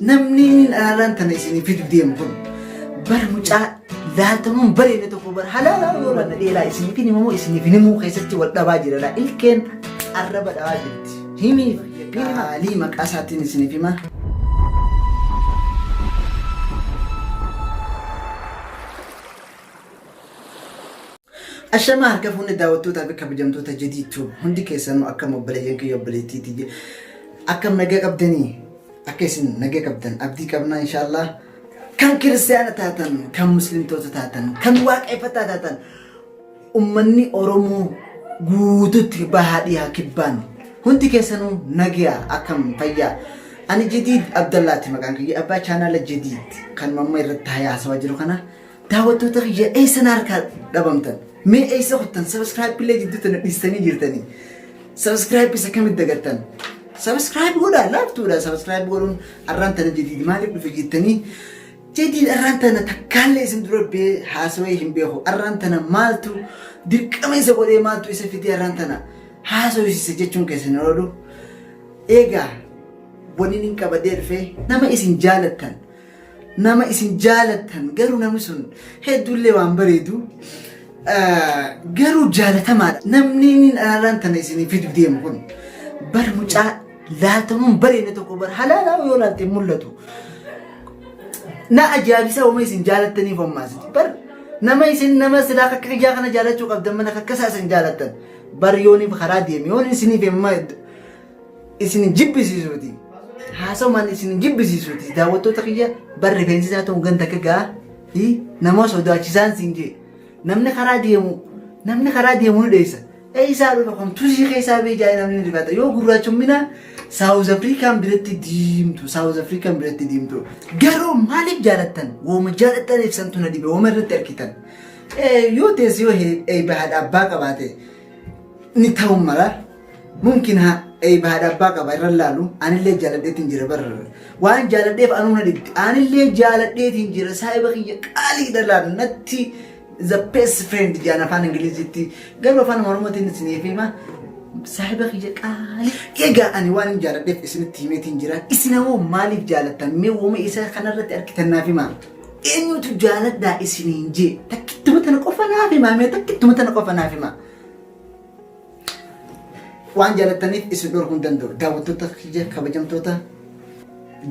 Namni dhaalaan tana isinii fidu deemu kun bara mucaa laaltamuun bareedne tokko bara halaalaa yoo laanna dheeraa isiniif hin himamu isiniif hin himuu keessatti wal dhabaa jira laa ilkeen arraba dhabaa jirti. Himiif qaalii maqaa isaatiin isiniif hima. Ashamaa harka fuunni daawwattootaa fi kabajamtoota Jadii Tube hundi keessanuu akkam obboleeyyan kiyya obboleettiiti akkam nagaa qabdanii akka isin nagaa qabdan abdii qabnaa inshaallah kan kiristaana taatan kan muslimtoota taatan kan waaqeffataa taatan ummanni Oromoo guututti bahaa dhiyaa kibbaan hundi keessanuu nagaa akkam fayyaa ani Jadiid Abdallaati maqaan kiyya abbaa chaanaala Jadiid kan mamma irratti haasawaa jiru kana Daawwattoota kiyya eessa na harkaa dhabamtan? Mee eessa kuttan? Sabiskiraayib illee jidduu tana dhiistanii jirtanii. Sabiskiraayib isa kamitti dagattan? Sabiskiraayib godhaa laaftuudha. Sabiskiraayib godhuun arraan tana jadiid maaliif dhufe jettanii jadiid arraan tana takkaallee isin dura bee haasawee hin beeku. Arraan tana maaltu dirqama isa godhee maaltu isa fidee arraan tana haasawisiise jechuun keessan oolu. Eegaa waniin hin qabadee dhufee nama isin jaalattan nama isin jaalattan garuu namni sun hedduullee waan bareedu garuu jaalatamaadha. Namni inni araaraan tana isinii fidu deemu kun bar mucaa laatamuun bareedne tokko bar halaalaa yoo laatte mul'atu. Na ajaa'ibisaa uumee isin jaalattaniif hommaasiti. Bar nama isin nama silaa akka kiyyaa kana jaalachuu qabdan mana akka isaa isin jaalattan. Bar yooniif karaa deemi yoon isiniif himma isin hin jibbisiisuuti. Haasawumaan isin hin jibbisiisuuti. Daawwattoota kiyya bar rifeensi isaa ta'u ganda akka ga'a. Hi nama sodaachisaan siin jee. Namni karaa deemu namni karaa deemu ni dheessa. Eessaa dhufa kun tuzii keessaa bee jaa'ee namni rifata. Yoo gurraachumminaa Saawuz Afrikaan biratti diimtu. Saawuz Afrikaan biratti diimtu. Garuu maaliif jaalattan? Wooma jaalattan ibsantu na dhibe. Wooma irratti argitan. Eh, Yoo teessi yoo eebba haadha abbaa qabaate ni ta'u mala. Mumkin ha eib haadha abbaa qaba irra laalu anillee jaaladheetiin jira bar waan jaaladheef anuu na dhibdi anillee jaaladheetiin jira saahiba kiyya qaaliidha laal natti the best friend jaan afaan ingilizitti garuu afaan oromootiin isiniif hima saahiba kiyya qaalii egaa ani waan hin jaaladheef isinitti himeetiin jira isin ammoo maaliif jaalattan mee uuma isaa kanarratti argitannaaf himaa eenyutu jaaladhaa isiniin jee takkittuma tana qofa naaf himaa mee takkittuma tana qofa naaf himaa Waan jaalattaniif isin dhorkuu hin danda'u. Daawwattoota kiyya kabajamtoota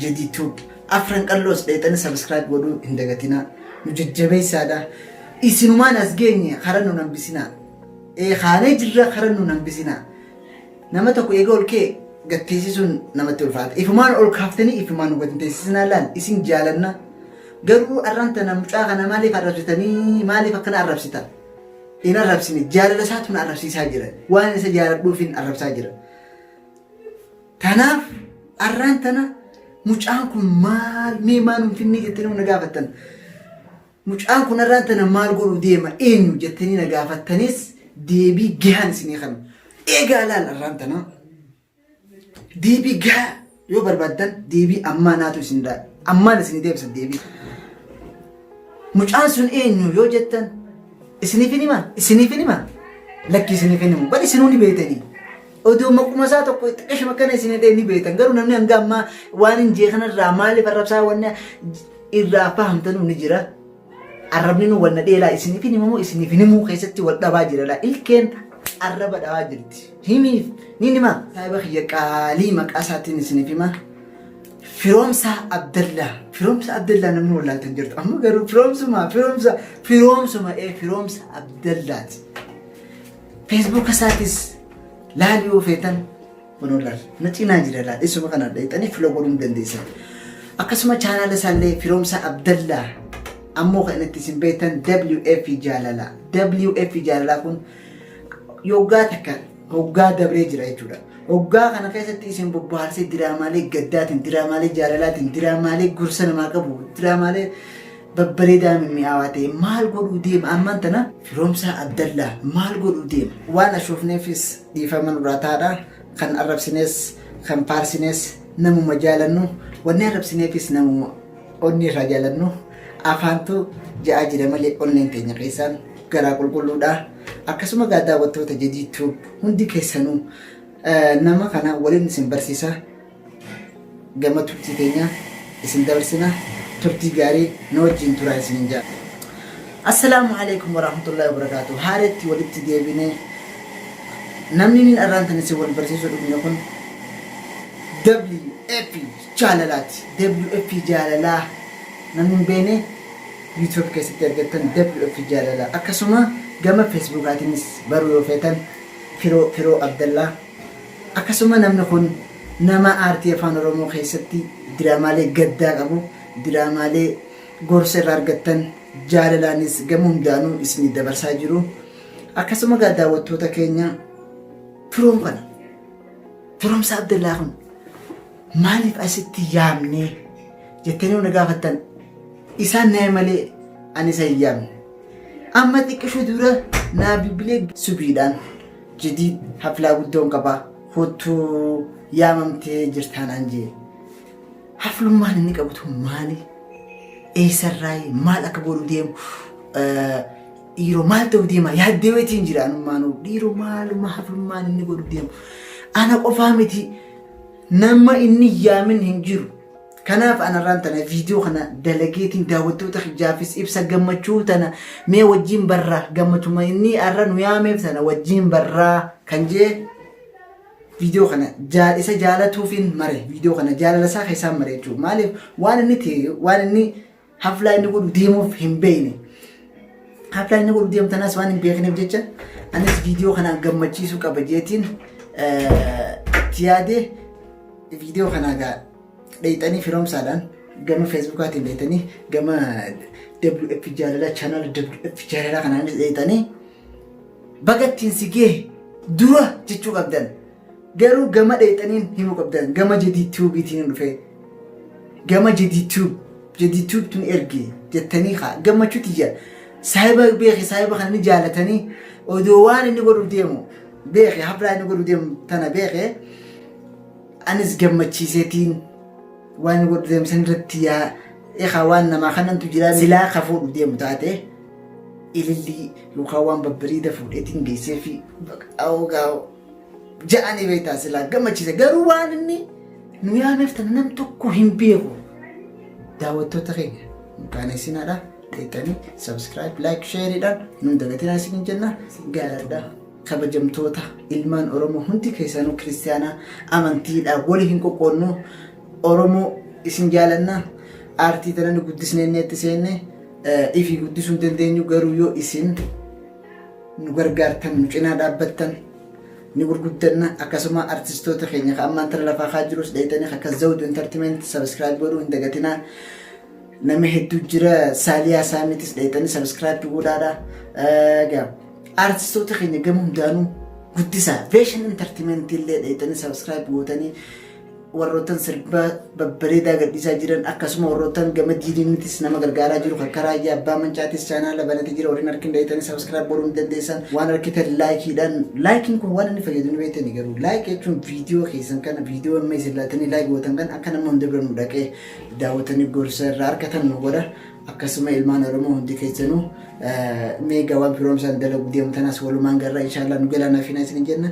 Jedii Tube. Afran qalloos dheexanii sabiskiraayib godhuu hin dagatinaa. Nu jajjabeessaadha. Isinumaan as geenye karaa nu nambisinaa. Ee kaanee jirra karaa nu nambisinaa. Nama tokko eega ol kee gad teessisuun namatti ulfaata. Ifumaan ol kaaftanii ifumaan nu gad hin teessisinaa laal isin jaalanna. Garuu arraan tana mucaa kana maaliif arrabsitanii maaliif akkana arrabsitan? hin arrabsine jaalala isaatu na arrabsiisaa jira waan isa jaaladhuuf hin arrabsaa jira tanaaf arraan tana mucaan kun maal mee maa nuun finnee jettanii nu na gaafattan mucaan kun arraan tana maal godhu deema eenyu jettanii na gaafattanis deebii gahaan isinii kan eegaa laal arraan tanaa Deebii gahaa yoo barbaaddan deebii ammaa naatu isin daa ammaan isin deebisa deebii. Mucaan sun eenyu yoo jettan isiniif hin himaa isiniif hin himaa lakki isiniif hin himu bal isinuu ni beektanii. Odoo maquma isaa tokko itti qashima kana isin hidhee ni beektan garuu namni hanga ammaa waan hin jee kanarraa maaliif arrabsaa wanni irraa fahamtanuu ni jira. Arrabni nu wal nadhee laa isiniif hin himamu isiniif hin himuu keessatti wal dhabaa jira laa ilkeen arraba dhabaa jirti. Himiif ni hima. Saahiba kiyya qaalii maqaa isaatiin isiniif hima. Firoomsaa Abdallaa. Firoomsa Abdallaa namni wallaaltan jirtu. Amma garuu firoomsuma firoomsa firoomsuma ee firoomsa Abdallaati. Feesbuuka isaatis laali yoo feetan Kunoo laal na cinaa jira laal isuma kana dheexanii filo godhuu ni dandeessan. Akkasuma chaanaala isaallee firoomsaa Abdallaa ammoo kan itti isin beektan WF jaalala. WF jaalalaa kun yoggaa takka hoggaa dabree jira jechuudha. Hoggaa kana keessatti isin bobbaarsee diraamaalee gaddaatiin, diraamaalee jaalalaatiin, diraamaalee gorsa namaa qabu, diraamaalee babbareedaa mimmi'aawaa ta'e maal godhuu deema ammaan tana firoomsaa Abdallaa maal godhuu deema waan ashoofneefis Dhiifama nurraa taadha. Kan arrabsinees, kan faarsinees namuma jaalannu. Wanni arrabsineefis namuma onnee irraa jaalannu. Afaantu ja'aa jira malee onneen teenya keessaan garaa qulqulluudha. Akkasuma gaa daawwattoota Jadii Tube hundi keessanuu nama kana waliin isin barsiisa. Gama turtii keenyaa isin dabarsina. Turtii gaarii nu wajjiin turaa isiniin jedha. Assalaamu alaikum warahmatullahi wabarakatuh. Haareetti walitti deebine. Namni niin arraan tan isin wal barsiisuu dhufne kun WF jaalalaati. WF jaalalaa namni hin beekne YouTube keessatti argattan WF jaalalaa. Akkasuma gama Facebookaatiinis baruu yoo feetan Firoo Firoo Abdallaa Akkasuma namni kun nama aartii Afaan Oromoo keessatti diraamaalee gaddaa qabu, diraamaalee gorsa irraa argattan, jaalalaanis gama hundaanuu isinii dabarsaa jiru. Akkasuma egaa daawwattoota keenya firoom kana Firoomsaa Abdallaa kun maaliif asitti yaamnee jettanii yoo na gaafattan isaan naa'e malee ani isa hin yaamne. Amma xiqqishuu dura naa bilbilee subiidhaan jidii haflaa guddoon qaba kottuu yaamamtee jirtaa naan jee haflummaan inni qabu tun maali eessarraayi maal akka godhu deemu eh, dhiiroo maal ta'u deema yaaddee weetiin jira anummaanuu dhiiroo maaluma haflummaan inni godhu deemu ana qofaa miti nama inni yaamin hin jiru Kanaaf anarraan tana viidiyoo kana dalageetiin daawwattoota kiyyaafis ibsa gammachuu tana mee wajjiin barraa gammachuma inni arra nu yaameef tana wajjiin barraa kan jee viidiyoo kana jaal isa jaalatuufiin mare viidiyoo kana jaalala isaa keessaan mare jechuudha maaliif waan inni ta'e waan inni Haflaa inni godhu deemuuf hin beekne. Haflaa inni godhu deemtanas waan hin beekneef jecha anis viidiyoo kanaan gammachiisuu qaba jeetiin itti yaadee viidiyoo kanaa gaa dheeyxanii firoomsaadhaan gama feesbuukaatiin dheeyxanii gama WF jaalalaa chaanaala WF jaalalaa kanaanis dheeyxanii baga ittiin si gee dura jechuu qabdan. Garuu gama dheexaniin himu qabdan gama jadid tube tiin dhufee gama jadid tube jadid tube tun ergi jettanii kaa gammachuu tiyya saahiba beeki saahiba kana ni jaalatanii odoo waan inni godhu deemu beeki haflaa inni godhu deemu tana beeki anis gammachiiseetiin waan inni godhu deemu san irratti yaa ekaa waan namaa kanantu jira silaa ka fuudhu deemu taate ilillii yookaan waan babbariida fuudheetiin geessee fi baqaa'oo gaa'oo. ja'anii beektaa silaa gammachiise garuu waan inni nu yaameef tana nam tokko hin beeku daawwattoota keenya hin qaaneessinaadha dheettanii subscribe like shareedhaan nun dagatinaa isin jenna gaaladha kabajamtoota ilmaan oromoo hundi keessanuu kiristaanaa amantiidha wali hin qoqqoonnu oromoo isin jaalanna aartii tana nu guddisneenneetti seenne ifii guddisuu hin dandeenyu garuu yoo isin nu gargaartan nu cinaa dhaabbattan ni gurguddanna akkasuma artistoota keenya ka ammaan tana lafaa kaa jirus dheeytanii akka zawdu entertainment subscribe godhuu hin dagatinaa nama hedduu jira saaliyaa saamitis dheeytanii subscribe godhaadha egaa artistoota keenya gama hundaanuu guddisaa veeshan entertainment illee dheeytanii subscribe gootanii warrootan sirba babbareedaa gadhiisaa jiran akkasuma warrootan gama diiniinitis nama gargaaraa jiru kan karaa ija abbaa mancaatis chaanaala banatee jira warreen harki hin dhayitanii sabiskiraayib godhuu ni dandeessan waan harkitan laayikiidhaan laayikiin kun waan inni fayyadu ni beektani garuu laayik jechuun viidiyoo keessan kana viidiyoo amma isin laatanii laayik gootan kan akka nama hunda bira nu dhaqee daawwatanii gorsa irraa argatan nu godha akkasuma ilmaan oromoo hundi keessanuu meegaa waan firoomsaan dalaguu deemu tanas walumaan garraa inshaallah nu galaanaaf hin isin jenna